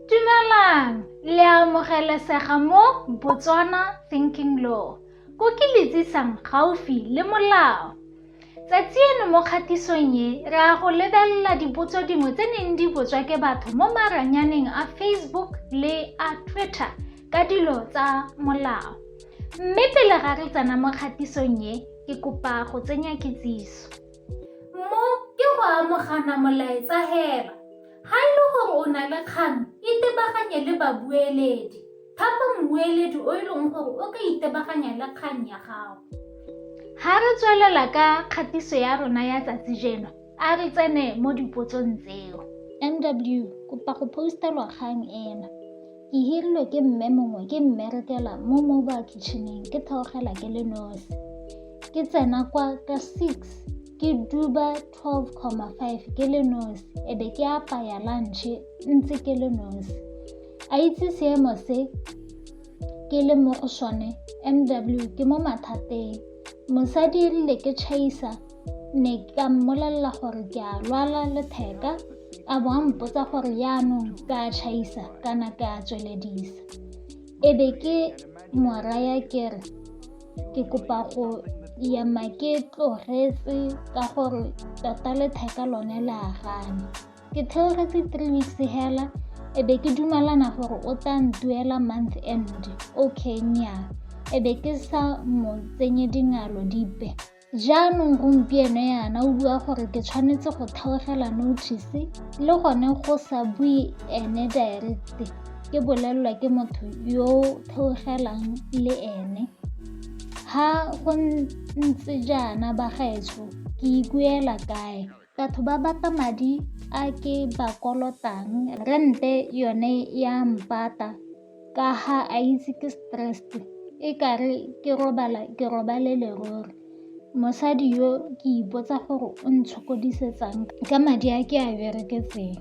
Dumelang, le a amogelesega mo Botswana Thinking Law, ko ke le tsisang gaufi le molao. Tsatsi eno mo kgatisong e, re a go lebelela dipotso dingwe tse neng di botswa ke batho mo maranyaneng a Facebook le a Twitter ka dilo tsa molao. Mme pele ga re tsena mo kgatisong e, ke kopa go tsenya kitsiso. Mo ke go amogana molaetsa hela. Ga e le gore o na le kgang, itebaganye le babueledi. Thapa mmueledi o e leng gore o ka itebaganya le kgang ya gago. Ga re tswelela ka kgatiso ya rona ya tsatsi jeno, a re tsene mo dipotsong tseo. NW, kopa go postelwa kgang ena. Ke hirilwe ke mme mongwe ke mmerekela mo mobile kitcheneng ke theogela ke le nosi. Ke tsena kwa ka six ke duba 12,5 ke le nosi e be ke apaya lunche ntse ke le nosi a itse seemo se ke le mo go sone mw ke mo mathateng mosadi erile ke chaisa ne ka mmolelela gore ke a lwala letheka a bo a mpotsa gore yaanong ka chaisa kana ke a tsweledisa e be ke moraya ke re ke kopa go ya ma ke tlogetse ka gore tota letheka lone le a gane ke theogetse three weeks hela e be ke dumalana gore o tla ntuela month end okay nya e be ke sa mo tsenye dingalo dipe Jaanong gompieno yana o bua gore ke tshwanetse go theogela notice le gone go sa bue ene direct ke bolelelwa ke motho yo theogelang le ene ha go ntse jaana bagaetsho ke ikuela kae Batho ba batla madi a ke ba kolotang, rente yone ya mpata ka ha a itse ke stressed e kare ke robala ke robale lerole. Mosadi yo ke ipotsa gore o ntshokodisetsang ka madi a ke a bereketseng.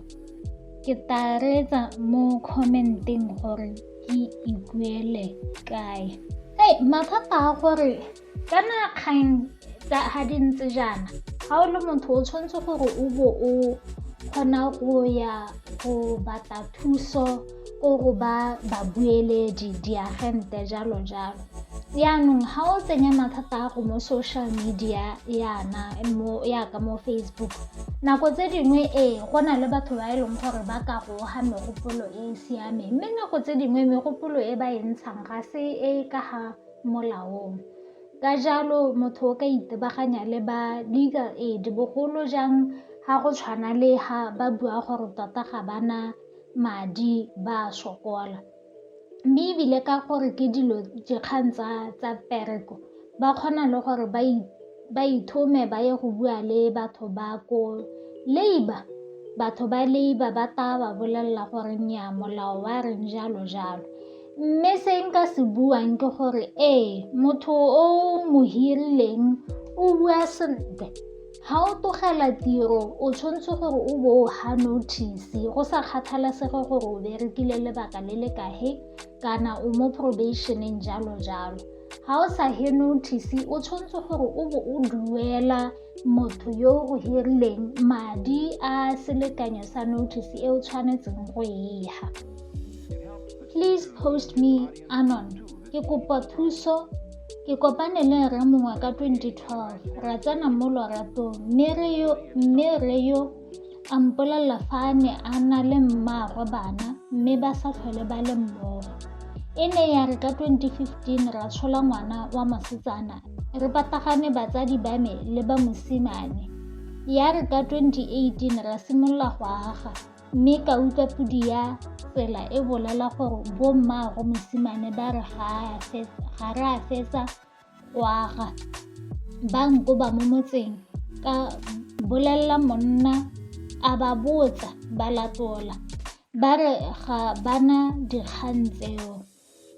Ke tla reetsa mo comment-eng gore ke ikuele kae. Hey, mathata a gore kana kgang tsa ga di ntse jaana ga o le motho o tshwanetse gore o bo o kgona go ya go batla thuso ko go ba babueledi diagente jalo jalo yaanong ga o tsenya mathata a go mo social media yana yaka mo facebook nako tse dingwe ee go na le batho ba e leng gore ba ka goga megopolo e e siameng mme nako tse dingwe megopolo e ba e ntshang ga se e ka ga molaong. Ka jalo motho o ka itebaganya le ba legal aid bogolo jang ga go tshwana le ha ba bua gore tota ga ba na madi ba a sokola, mme ebile ka gore ke dilo dikgang tsa tsa mpereko ba kgona le gore ba ithome ba ye go bua le batho ba ko labour batho ba labour ba tla ba bolelela gore nnyaa molao wa reng jalo jalo. Mme se nka se buang ke gore ee motho o mo hirileng o bua sentle ga o togela tiro o tshwanetse gore o bo o ga notice go sa kgathalesege gore o berekile lebaka le le kahe kana o mo probationeng jalo jalo ga o sa he notice o tshwanetse gore o bo o duela motho yo o hirileng madi a selekanyo sa notice e o tshwanetseng go eha please post me anon ke kopa thuso ke kopane le rre mongwe ka 2012 ra tsena mo loratong mme re yo A mpolelela fa a ne a na le mmaagwe bana mme ba sa tlhole ba le mmogo. E ne ya re ka 2015 ra tshola ngwana wa mosetsana re patagane batsadi ba me le ba mosimane. Ya re ka 2018 ra simolola go aga mme ka utlwa podi ya tsela e bolela gore bo mmaagwe mosimane ba re ga re a fetsa go aga ba nkoba mo motseng ka bolelela monna a ba botsa ba latola ba re ga bana dikgang tseo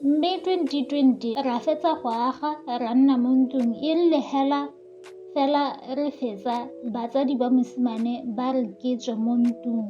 mme 2020 ra fetsa go aga ra nna mo ntlong e rile hela fela re fetsa batsadi ba mosimane ba re ke tswe mo ntlong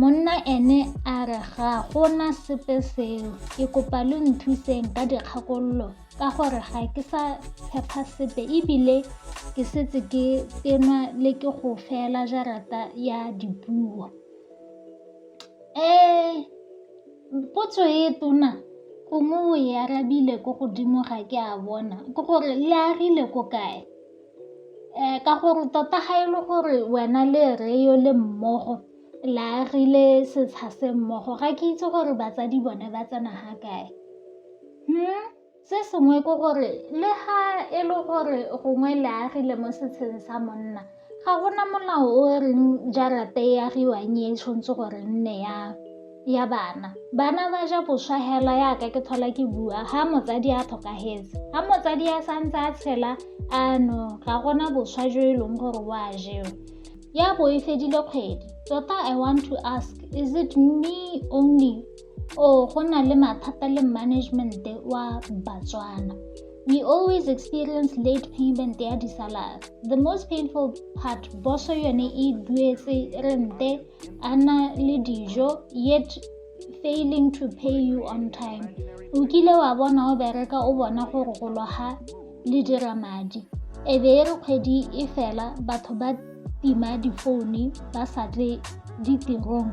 Monna ene a re ga gona sepe seo, ke kopa lo nthuseng ka dikgakololo ka gore ga ke sa tshepa sepe ebile ke setse ke tenwa le ke go fela jarata ya dipuo. Um potso e tona gongwe o e arabile ko godimo ga ke a bona, ke gore le agile ko kae? Ka gore tota ga e le gore wena le rre yo le mmogo le agile setsha se mmogo ga ke itse gore batsadi bone ba tsena ga kae. Se sengwe ke gore le ga e le gore gongwe le agile mo setsheng sa monna ga gona molao o reng jarata e agiwang e tshwanetse gore e nne ya. ya bana bana ba ja boswa hela yaka ke tlhola ke bua ga motsadi a tlhokagetse ga motsadi a santse a tshela ano ga gona boswa jo e leng gore o a jewa ya bo e fedile kgwedi tota i want to ask is it me only o go na le mathata le management wa batswana we always experience late payment ya disalary the most painful part boso yone e duetse rente a na le dijo yet failing to pay you on time o kile wa bona o bereka o bona gore go loga le dira madi e be e re kgwedi e fela batho ba tima difoune ba sa tle ditirong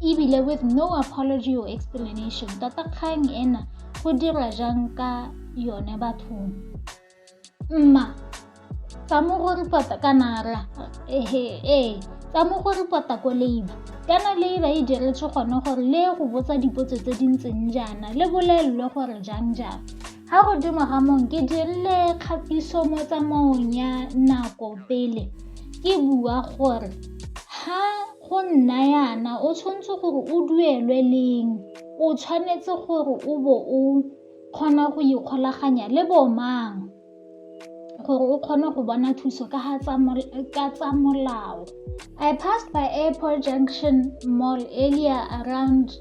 ebile with no apology or explanation tata kgang ena go dira jang ka yone bathong Mma, tsa mo go ripota ka nara. Ehe, ee, tsa mo go ripota ko leiba. Kana leiba e diretswe gone gore le go botsa dipotso tse di ntseng jaana, le bolelelwe gore jang jang. Ga godimo ga mong ke dirile kgatiso mo tsamaong ya nako pele ke bua gore ga go nna yana o tshwanetse gore o duelwe leng, o tshwanetse gore o bo o kgona go ikgolaganya le bo mang gore o kgone go bona thuso ka tsa molao i passed by airport junction mall earlier around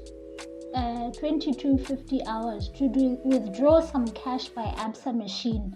uh, 2250 hours to do, withdraw some cash by absa machine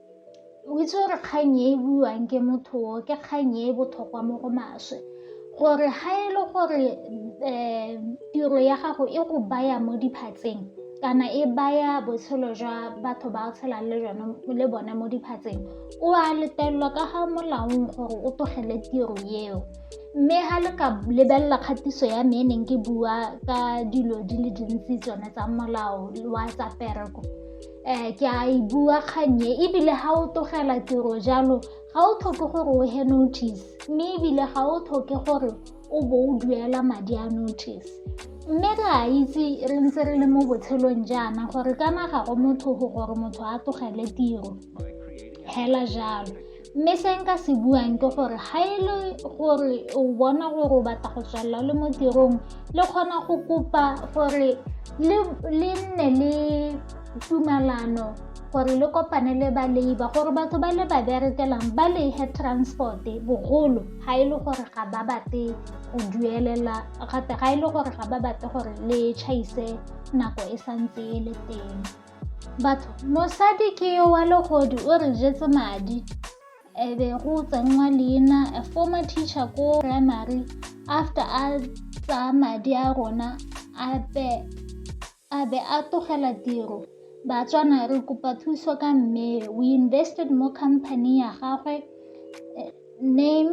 O itse gore kgang e e buiwang ke motho o ke kgang e e botlhokwa mo go maswe gore ga e le gore um tiro ya gago e go baya mo diphatseng kana e baya botshelo jwa batho ba o tshelang le jone le bone mo diphatseng o a letelelwa ka ga molaong gore o tlogele tiro eo mme ga le ka lebelela kgatiso ya me e neng ke bua ka dilo di le dintsi tsone tsa molao wa tsa pereko um ke a e bua kgannye ebile ga o tlogela tiro jalo ga o tlhoke gore o he notice mme ebile ga o tlhoke gore o bo o duela madi a notice mme re a itse re ntse re le mo botshelong jaana gore ka naga go motho go gore motho a tlogele tiro hela jalo mme se nka se buang ke gore ga e le gore o bona gore o batla go tswelela le mo tirong le kgona go kopa gore le nne le tumalano gore le kopane le ba labor gore batho ba le ba berekelang ba lehe transport bogolo ga e le gore ga ba bate go duelela gape ga e le gore ga ba bate gore le chaise nako e santse e le teng batho mosadi ke yo wa legodi o re jetse madi e be go tsenngwa leina a former teacher ko primary after a tsaya madi a rona a be a be a togela tiro batswana re kopa thuso ka mme we invested mo company ya gagwe name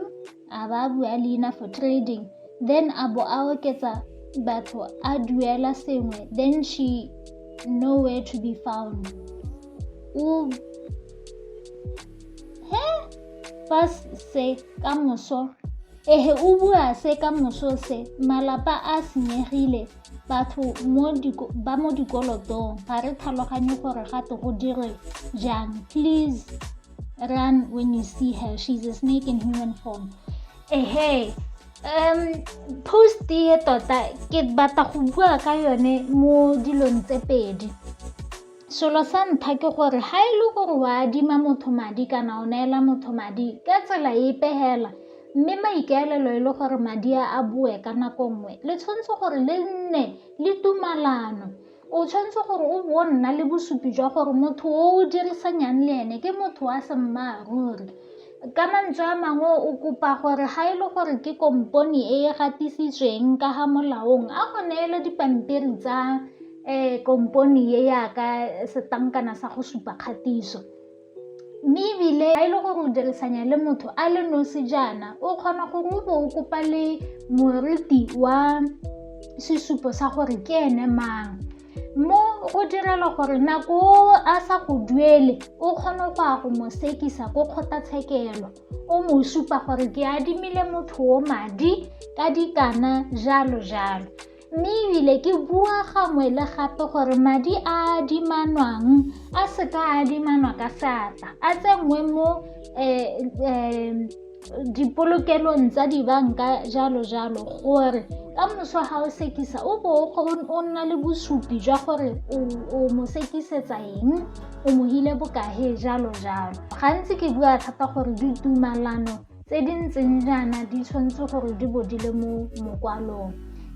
a ba bua leina for trading then a bo a oketsa batho a duela sengwe then she nowhere to be found o he fa se ka moso ehe o bua se ka moso se malapa a senyegile batho ba mo dikolotong ga re tlhaloganye gore gate go dirwe jang please run when you see her. She's a snake in human form. Hey, hey. Um, post e tota ke batla go bua ka yone mo dilong tse pedi selo sa ntlha ke gore ga e le gore wa adima motho madi kana o neela motho madi ka tsela e pegela mme maikaelelo e le gore madi a a boe ka nako nngwe le tshwanetse gore le nne le tumalano O tshwanetse gore o bo o nna le bosupi jwa gore motho o o dirisanyang le ene ke motho wa semmaaruri. Ka mantswe a mangwe o kopa gore ga e le gore ke kompone e e gatisitsweng ka ga molaong a go neele dipampiri tsa um kompone e yaka setlankana sa go supa kgatiso. Mme ebile a e le gore o dirisanya le motho a le nosi jaana o kgona gore o bo o kopa le moriti wa sesupo sa gore ke ene mang mo go direla gore nako a sa go duele o kgone go a go mo sekisa ko kgotlatshekelo o mo supa gore ke adimile motho o madi ka dikana jalo jalo Mme ebile ke bua gangwe le gape gore madi a adimanwang a seka a adimanwa ka seatla a tsenngwe mo um dipolokelong tsa dibanka jalo jalo gore ka moso ga o sekisa o bo o nna le bosupi jwa gore o mo sekisetsa eng o mohile bokae jalo jalo gantsi ke bua thata gore ditumalano tse di ntseng jaana di tshwanetse gore di bo di le mo mokwalong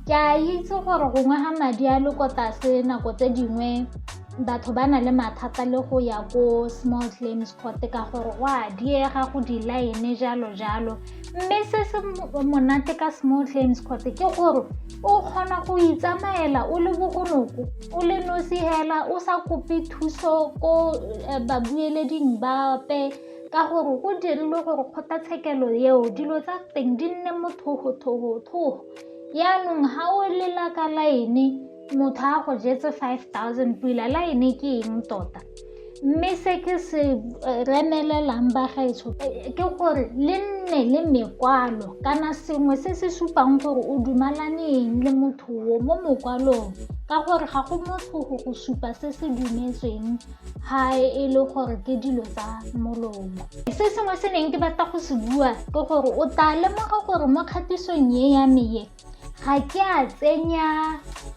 ke a itse gore gongwe ga madi a le ko tlase nako tse dingwe batho ba na le mathata le go ya ko small claims court ka gore go a diega go di-line jalo jalo mme se se monate ka small claims court ke gore o kgona go itsamaela o le bogonoko o le nosi hela o sa kope thuso ko eh, babueleding bape ka gore go dirilwe gore kgotlatshekelo eo dilo tsa teng di nne mothogothogotlhogo yaanong ga o lela ka laene motho a go jetse five thousand pila laene ke eng tota mme se ke se eh, remelelang bagaetsho eh, ke gore le nne le mekwalo kana sengwe se se supang gore o dumalaneng le motho o mo mokwalong ka gore ga go motho go go supa se se dumetsweng ga e le gore ke dilo tsa molomo se sengwe se neng ke batla go se bua ke gore o tla lemoga gore mo kgatisong e ya meye ga ke a tsenya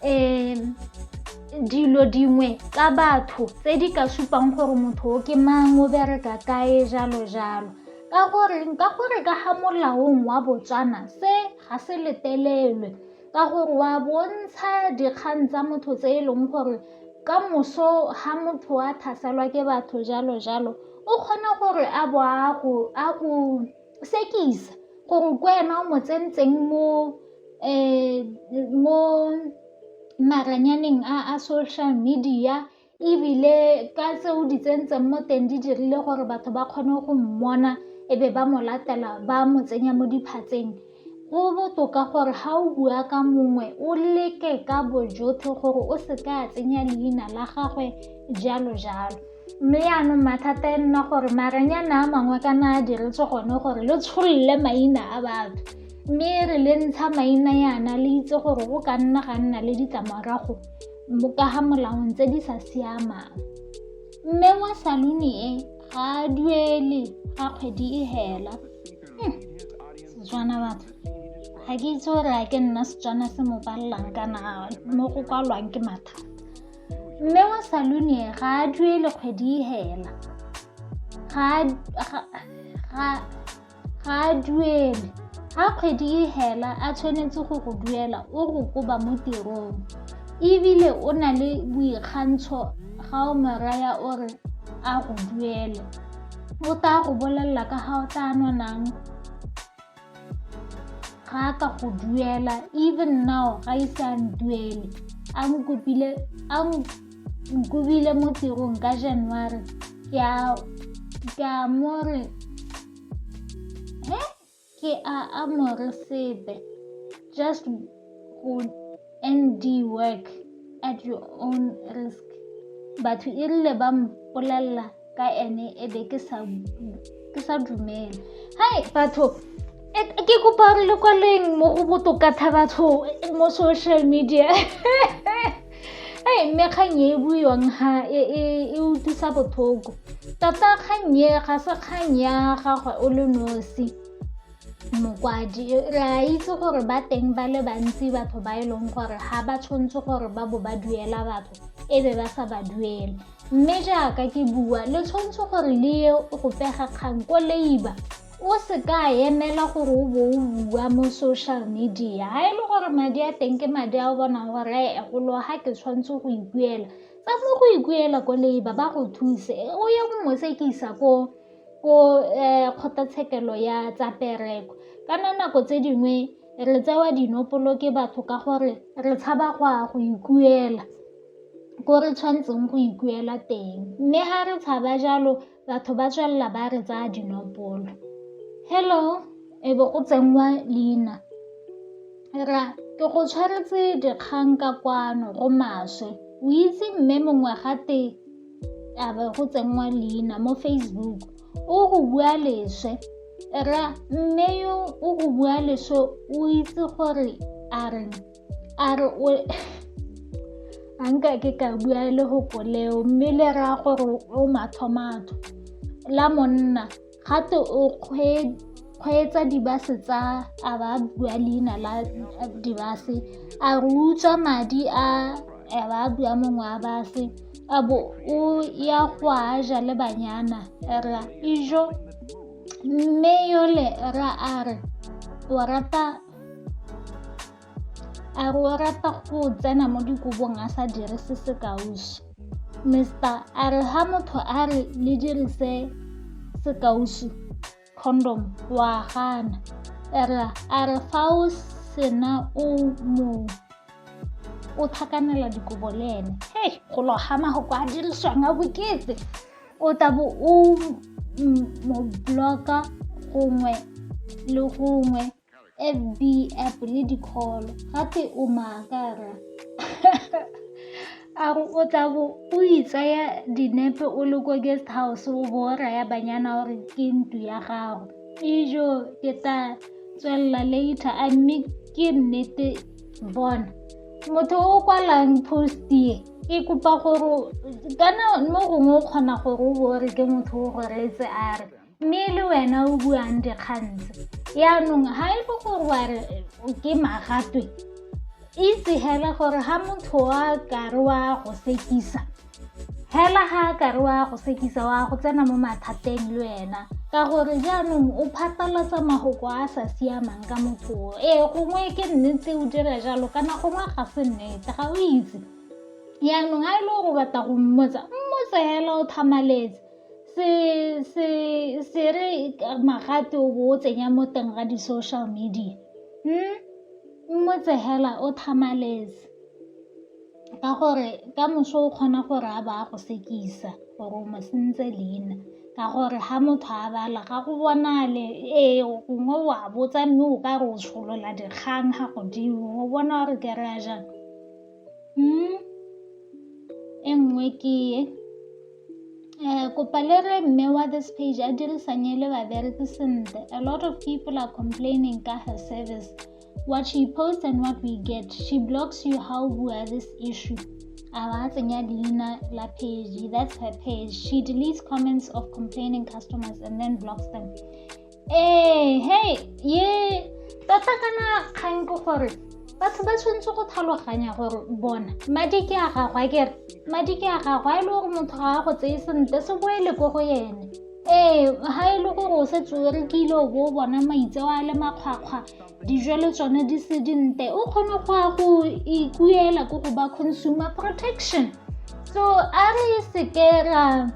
um dilo dingwe tsa batho tse di ka supang gore motho o ke mang o bereka kae jalo jalo ka gore ka gore ka ga molaong wa botswana se ga se letelelwe ka gore wa bontsha dikgang tsa motho tse e leng gore Ka moso ha motho a tlhaselwa ke batho jalo jalo o kgona gore a bo a go sekisa gore ke wena o mo tsentseng mo mo maranyaneng a social media ebile ka tse o di tsentseng mo teng di dirile gore batho ba kgone go mmona e be ba mo latela ba mo tsenya mo diphatseng. Go botoka gore ga o bua ka mongwe o leke ka bojotlhe gore o se ka a tsenya leina la gagwe jalo jalo mme yaanong mathata e nna gore maranyana a mangwe ka na a diretse gone gore le tsholole maina a batho mme e re le ntsha maina yana le itse gore o ka nna ga nna le ditlamorago ka ga molaong tse di sa siamang mme wa saluni e ga a duele ga kgwedi e hela hmm. setswana batho ga ke itse gore a ke nna setswana se mo palelang kana mo go kwalwang ke matha mme wa salune ga a duele kgwedi e hela ga a duele ga kgwedi e hela a tshwanetse go go duela o go koba mo tirong ebile o na le boikgantsho ga o moraya o re a go duele o tla go bolelela ka ga o tla nonang ga a ka go duela even now ga ise a nduele a nkopile a nkobile mo tirong ka january ke a mo re Ke a amore sebe. Just go ND work at your own risk. Batho e rile ba mpolelela ka ene e be ke sa ke sa dumela. Hai batho e, ke kopa re le kwaleng mo go botoka tha batho mo social media. ee mme kgang e e buiwang ha e, e, e utlwisa botlhoko tota kgang e ga se kgang ya gagwe o le nosi mokwadi re a itse gore ba teng ba le bantsi batho ba e leng gore ga ba tshwanetse gore ba bo ba duela batho e be ba sa ba duele mme jaaka ke bua le tshwanetse gore le ye go pega kgang ko leiba O se ka emela gore o bo o bua mo social media. Ga e le gore madi a teng ke madi a o bonang gore a e golo ga ke tshwanetse go ikuela. Tsa mo go ikuela ko labour ba go thuse, o ye go mo sekisa ko kgotlatshekelo ya tsa mpereko. Kana nako tse dingwe re tsewa dinopolo ke batho ka gore re tshaba go ya go ikuela ko re tshwanetseng go ikuela teng. Mme ga re tshaba jalo Batho ba tswelela ba re tsaya dinopolo. Hello, e be go tsenngwa leina. Ra, ke go tshwaretse dikgang ka kwano go maswe. O itse mme mongwe gate a be go tsenngwa leina mo Facebook. O go bua leswe. Ra, mme yo o go bua leswe o itse gore a reng. a re o a nka ke ka bua le go koleo mme le raya gore o mathomatho la monna gate o kgweetsa dibase tsa a ba bua leina la dibase a re utswa madi a a ba bua mongwe wa base a bo o ya go a ja le banyana ra ijo mme yole ra a re o rata A re o rata go tsena mo dikobong a sa dirise sekausu. Mister a re ha motho a re le dirise sekausu condom wa gana. Era a re fa o sena o mo o tlhakanela dikobo le ene. Hey, go loga mago kwa a dirisiwang a boketse. o tabo o mo bloka gongwe le gongwe fb app le dikholo gape o maakara a re o tla bo o itsaya dinepe o le ko guest house o bo o raya banyana gore ke ntu ya gago ijo ke tla tswelela later a mme ke nnete bona motho o kwalang post ye ke kopa gore kana mo gongwe o kgona gore o bore ke motho o go reetse a re mme le wena o buang dikgantse yaanong ga e le gore wa re ke magatwe itse hela gore ga motho wa kare wa go sekisa hela ga a kare wa go sekisa wa go tsena mo mathateng le wena ka gore jaanong o phatlalatsa magoko a sa siamang ka motho ee gongwe ke nnete o dira jalo kana gongwe ga se nnete ga o itse yaanong a e le gore o batla go mmotsa mmotse hela o thamaletse se se se re magate o bo o tsenya mo teng ga di-social media hmm? mmotse hela o thamaletse ka gore ka moso o kgona gore a ba a go sekisa gore o mo sentse leina ka gore ga motho a bala ga go bonale ee gongwe wa botsa mme o ka re o tsholola dikgang ga godimo o bona gore ke re a jang Mm, e nngwe ke e Eh, kopa le re mme wa this page a dirisanye le babereki sentle a lot of people are complaining ka her service what she posts and what we get she blocks you how bua this issue a ba tsenya leina la page that's her page she deletes comments of complaining customers and then blocks them ee he ye tota kana kgang ke gore batho ba tshwanetse go tlhaloganya gore bona madi ke a gagwe a kere madi ke a gagwe a e le gore motho ga a go tseye sentle se boele ko go ene ee ga e le gore o se tsere ke ile o bo o bona maitseo a le makgwakgwa dijo le tsone di se dinte o kgone go ya go ikuela ko go ba consumer protection so a re seke ra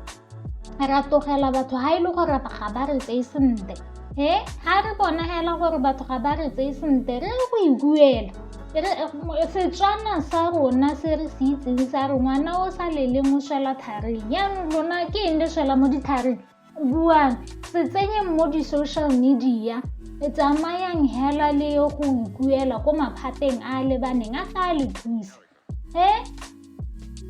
ra tlogela batho ga e le gore ga ba re tseye sentle e ga re bona fela gore batho ga ba re tseye sentle re go e buela setswana sa rona se re se itseng sa re ngwana o sa leleng o swela tharing jaanong lona ke eng le swela mo ditharing buang se tsenyeng mo di-social media e tsamayang hela le go ikuela ko maphateng a lebaneng a tla le thusa he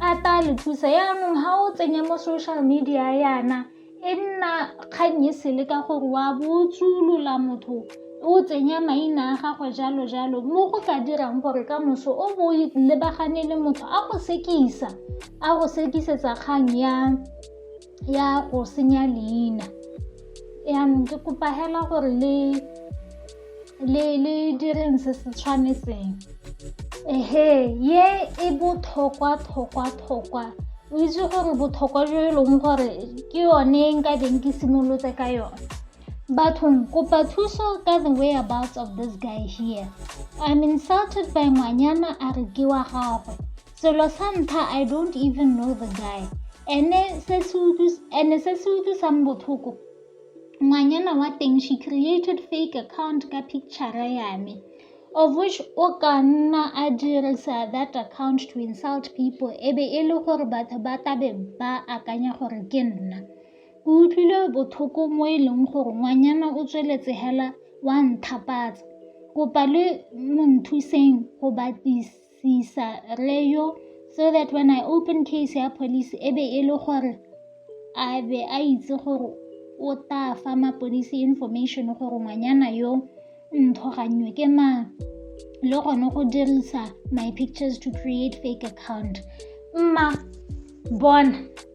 a ta le thusa yaanong ga o tsenya mo social media yana e nna kgang e sele ka gore wa botsolola motho o tsenya maina a gagwe jalo jalo mo go ka dirang gore ka moso o bo lebagane le motho a go sekisa a go sekisetsa kgang ya ya go senya leina yaanong ke kopa hela gore le le le direng se se tshwanetseng ehe ye e botlhokwa tlhokwa tlhokwa o itse gore botlhokwa jo e leng gore ke yone e nka beng ke simolotse ka yone bathong kopa thuso ka the way about of this guy here i'm insulted by ngwanyana a re ke wa gagwe selo sa ntlha i don't even know the guy ene se se utlwisang botlhoko ngwanyana wa teng she created fake account ka picture ya me of which o ka nna a dirisa that account to insult people e be e le gore batho ba tabe ba akanya gore ke nna ke utlwile botlhoko mo e leng gore ngwanyana o tsweletse hela wa nthapatsa kopa le mo nthuseng go batisa Sisa rre yo so that when I open case ya police e be e le gore a be a itse gore o tla fa mapodisi information gore ngwanyana yo nthogannyo ke mang le gone go dirisa my pictures to create fake account mma bona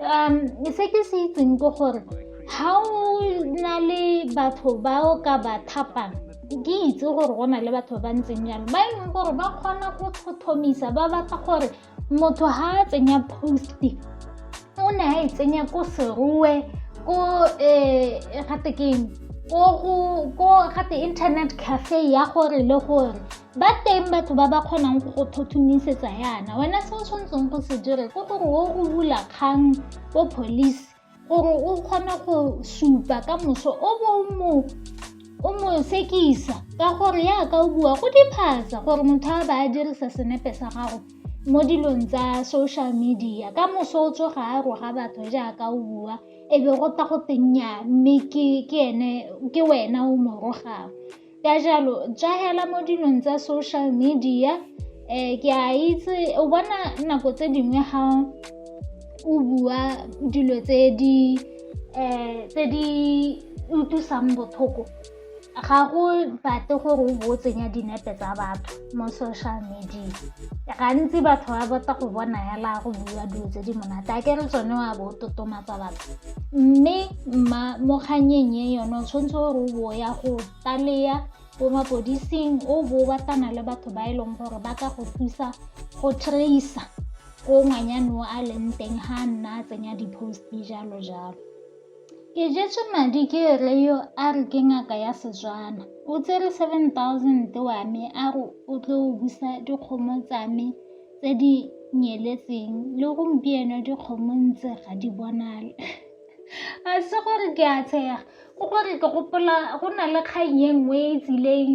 um se ke se itseng ke gore ga o na le batho ba o ka ba thapang ke itse gore go na le batho ba ntseng jalo ba e leng gore ba kgona go tlhotlhomisa ba batla gore motho ga a tsenya posti o ne a e tsenya ko seroe ko um gate keng ko gate internet cafe ya gore le gore ba teng batho ba ba kgonang go go thothomisetsa yana wena se o tshwanetseng go se dire ke gore o go bula kgang ko police gore o kgone go supa ka moso o bo mo o mo sekisa ka gore yaka o bua go diphatsa gore motho a ba a dirisa senepe sa gago mo dilong tsa social media ka moso o tsoga a roga batho jaaka o bua e be go ta go tenya mme ke wena o mo rogang Ka jalo, jaela mo dilong tsa social media, um ke a itse o bona nako tse dingwe ga o bua dilo tse di um tse di utlwisang botlhoko ga go batle gore o bo o tsenya dinepe tsa batho. mo social media gantsi batho ba bota go bona hela go bua dilo tse di monate a ke re tsone wa bo totomatsa batho mme mo kganyeng e yone o tshwanetse gore o bo ya go taleya ko mapodising o bo batana le batho ba e leng gore ba ka go thusa go traisa ko ngwanyane o a leng teng ga nna a tsenya di-post jalo jalo Ke jetswe madi ke rre yo a re ke ngaka ya Setswana. O tsere 7000 wa me a re o tlo busa dikgomo tsa me tse di nyeletseng le gompieno dikgomo ntse ga di bonale. A se gore ke a tshega, ke gore ke gopola go na le kgang e nngwe e tsileng.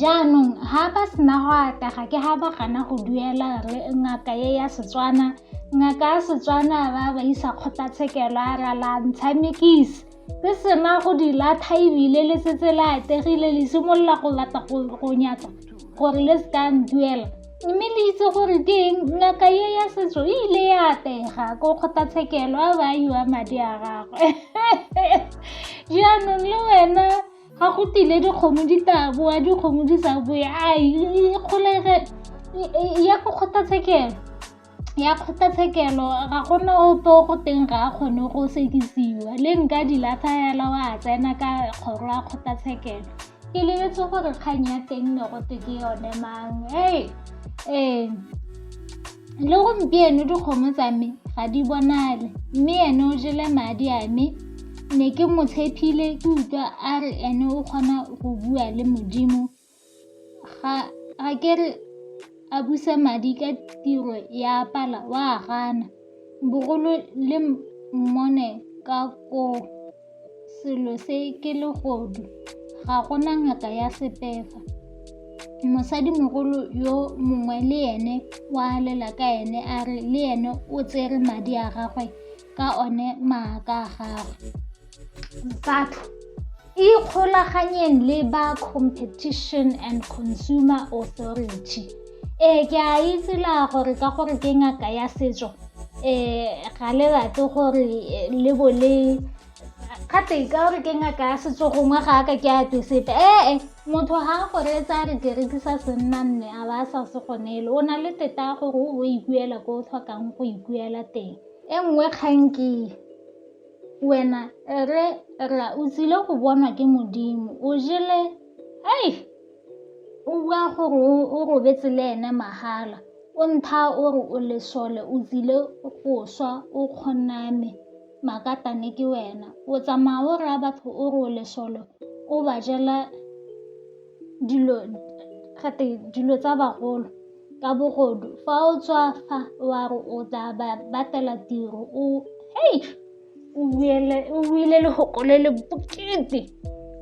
jaanong ga ba sena go atega ke ga ba gana go duela re ngaka e ya setswana ngaka ya setswana ba ba isa kgotlatshekelo a ra la ntsha mekisi le sena go di latha ebile le setse le ategile le simolola go batla go nyatsa gore le se ka nduela mme le itse gore ke eng ngaka e ya setso e ile ya atega ko kgotlatshekelo a ba yiwa madi a gagwe jaanong le wena ga go tile dikgomo di tla boa dikgomo di sa boe a kgolege ya go kgothatshekelo ya kgothatshekelo ga gona ope o go teng ga a kgone go sekisiwa le nka di latlha fela wa tsena ka kgoro ya kgothatshekelo ke lebetse gore kgang ya teng ne gote ke yone mang ee ee le gompieno dikgomo tsa me ga di bonale mme ene o jele madi a me ne ke mo tshepile ke utlwa a re ene o kgona go bua le modimo ga ke re a busa madi ka tiro ya pala wa gana bogolo le mmone ka koo Selo se ke legodu, ga go na ngaka ya sepefa. Mosadimogolo yo mongwe le ene o a lela ka ene a re le ene o tsere madi a gagwe ka one maaka a gagwe. Batho ikgolaganyeng le ba Competition and Consumer Authority. Ee, ke a itse la gore ka gore ke ngaka ya setso um ga le rate gore eh, le bo le gate ka gore ke ngaka ya setso gongwe ga aka ke ate sepe ee eh, motho ga a gore tsa re ke rekisa senna nne a ba sa se gonele o na le teta gore o bo ikuela ko o tlhokang go ikuela teng e nngwe kganke wena re ra o tsile go bonwa ke modimo o jele ei O bua gore o robetse le ene mahala. O ntha o re o lesole, o tsile go swa, o kgoname, makatane ke wena. O tsamaya o raya batho o re o lesole, o ba jela dilo gate dilo tsa bagolo ka bogodu. Fa o tswa fa wa re o tla ba batela tiro o . o buile legoko le le bokete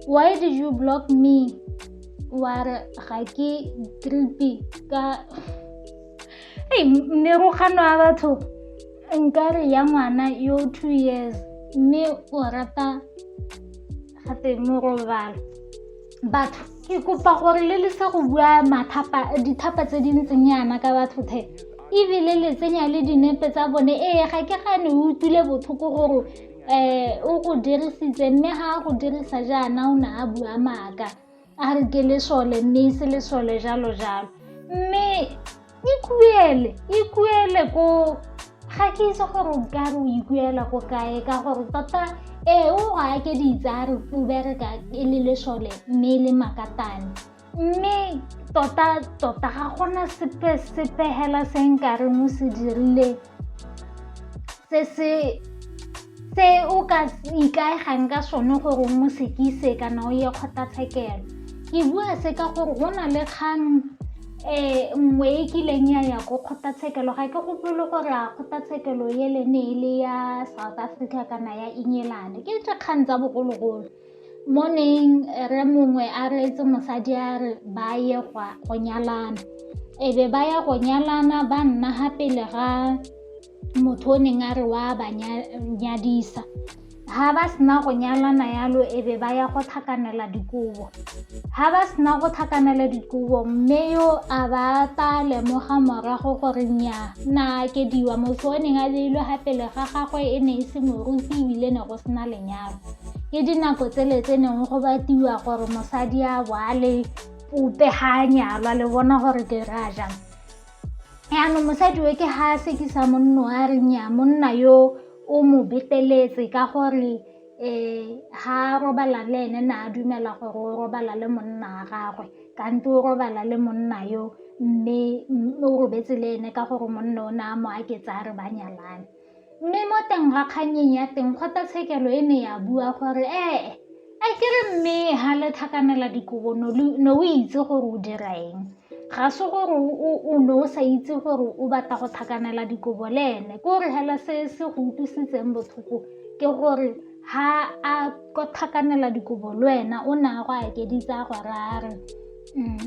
why did you block me wa re ga ke creepy ka ei merogano ya batho nkare ya ngwana yo two years mme o rata ga tse morobalo batho ke kopa gore le le sa go bua dithapa tse di ntseng yana ka batho the ebile le tsenya le dinepe tsa bone ee ga ke gane o utlwile botlhoko gore um o go dirisitse mme ga a go dirisa jaana o ne a bua maaka a re ke lesole mme e se lesole jalo jalo mme ikuele ikuele ko ga ke itse gore o ka re o ikuela ko kae ka gore tota ee o go ake ditse a re o bereka e le lesole mme e le makatane mme tota tota ga gona sepe sepegela se nkareng o se dirile se se se o ka ikaegang ka sone gore mo sekise kana o ye kgotlatshekelo ke bua se ka gore go na le kgang um nngwe e kileng ya ya ko kgotlatshekelo ga ke gopole gore a kgotlatshekelo ele ne e le ya south africa kana ya england ke tse kgang tsa bogologolo Morning, re mongwe a reetse mosadi a re ba ye go nyalana. E be ba ya go nyalana ba nna ga pele ga motho o neng a re wa ba nyadisa. Ga ba sena go nyalana yalo e be ba ya go tlhakanela dikobo. Ga ba sena go tlhakanela dikobo mme yo a ba ta lemoga morago gore nnyaa na akediwa motho o neng a beilwe ga pele ga gagwe e ne e se moruti ebile ne go sena lenyalo. ke dinako tsele tse neng go batiwa gore mosadi a boale pope ga a nyalwa le bona gore ke ra jang yaanong mosadi we ke ga a sekisa monno a reng ya monna yo o mo beteletse ka gore um ga a robala le ene na a dumela gore o robala le monna a gagwe kante o robala le monna yo mme o robetse le ene ka gore monna o ne a mo aketsa a re ba nyalane Mme mo teng ga kgannyeng ya teng kgotlatshekelo e ne ya bua gore ee a kere mme ga le tlhakanela dikobo ne o itse gore o dira eng ga se gore o ne o sa itse gore o batla go tlhakanela dikobo le ene ko re hela se se go utlwisitseng botlhoko ke gore ha a ko tlhakanela dikobo le wena o ne a go akeditsa a go rare mm.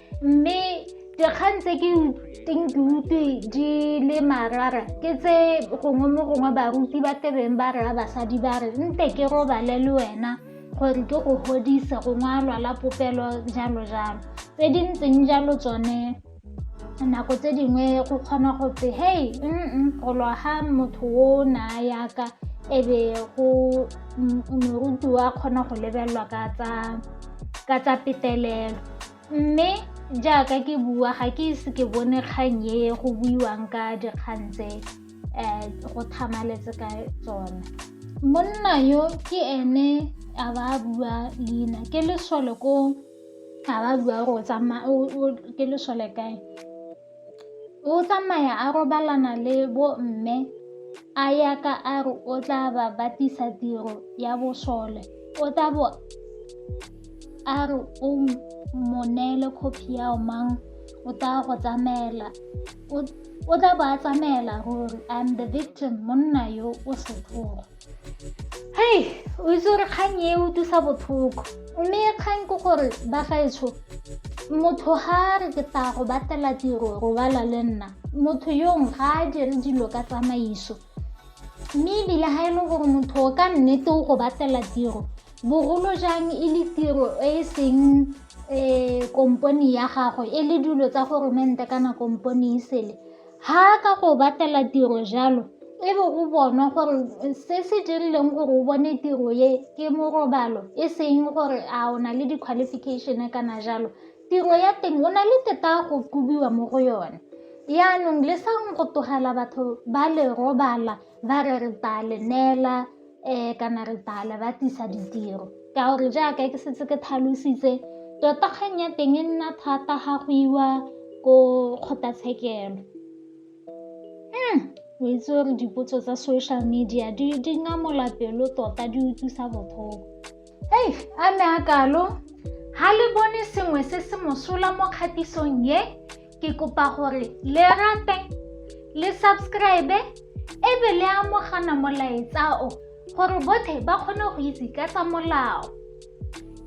mme dikgang tse ke teng ke utlwe di le marara ke tse gongwe mo gongwe baruti ba tebeng ba raya basadi ba re nte ke robale le wena gore ke go godise gongwe a lwala popelo jalo jalo tse di ntseng jalo tsone nako tse dingwe go kgona go tse hei mm go lwa ga motho o na yaka e be go moruti wa kgona go lebelelwa ka tsa petelelo mme jaaka ke bua ga ke ise ke bone kgang e go buiwang ka dikgang tse um go thamaletse ka tsone monna yo ke ene a ba a bua leina ke lesole ko a ba bua gore ke lesole kae O tsamaya a robalana le bo mme a ya ka a re o tla ba batlisa tiro ya bosole o tla bo a re o mo neele copy ya o mang o tla go tsamaela o tla bo a tsamaela ruri I'm the victim monna yo o setlhogo hei o itse gore kgang e utlwisa botlhoko mme kgang ke gore ba gaetsho motho ga re ke tla go batlela tiro robala le nna motho yong ga a dire dilo ka tsamaiso mme ebile ga e le gore motho o ka nnete o go batlela tiro bogolo jang e le tiro e e seng um kompone ya gago e le dilo tsa goromente kana kompone e sele Ha a ka go batlela tiro jalo, e be go bonwa gore se se dirileng gore o bone tiro ye ke morobalo e seng gore a o na le di-qualification kana jalo tiro ya teng o na le teta go kobiwa mo go yone yaanong le sa go tlogela batho ba le robala ba re re tla le neela kana re bala ba tlisa ditiro ka gore jaaka ke setse ke tlhalositse tota kgang ya teng e nna thata ga go iwa ko kgotlatshekelo hmm, o itse gore dipotso tsa social media di ngamola pelo tota di utlwisa botlhoko ei a ne a kalo ga le bone sengwe se se mosola mo kgatisong ye Ke kopa gore le rate, le subscribe, e be le amogana molaetsa o gore bothe ba kgone go itse ka tsa molao.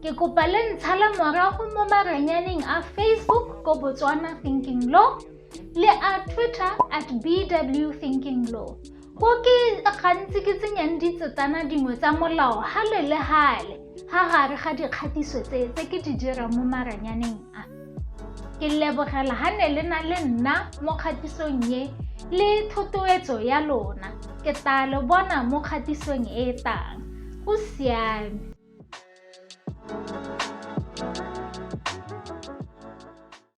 Ke kopa le ntshale morago mo maranyaneng a Facebook ko Botswana Thinking Law le a Twitter at BW Thinking Law. Ko ke gantsi ke tsenyang ditsetsana dingwe tsa molao gale le gale ga gare ga dikgatiso tse tse ke di dirang mo maranyaneng a. Ke lebogela ga ne le na le nna mo kgatisong ye le thotowetso ya lona. Ke tla lo bona mo kgatisong e tang. Go siame.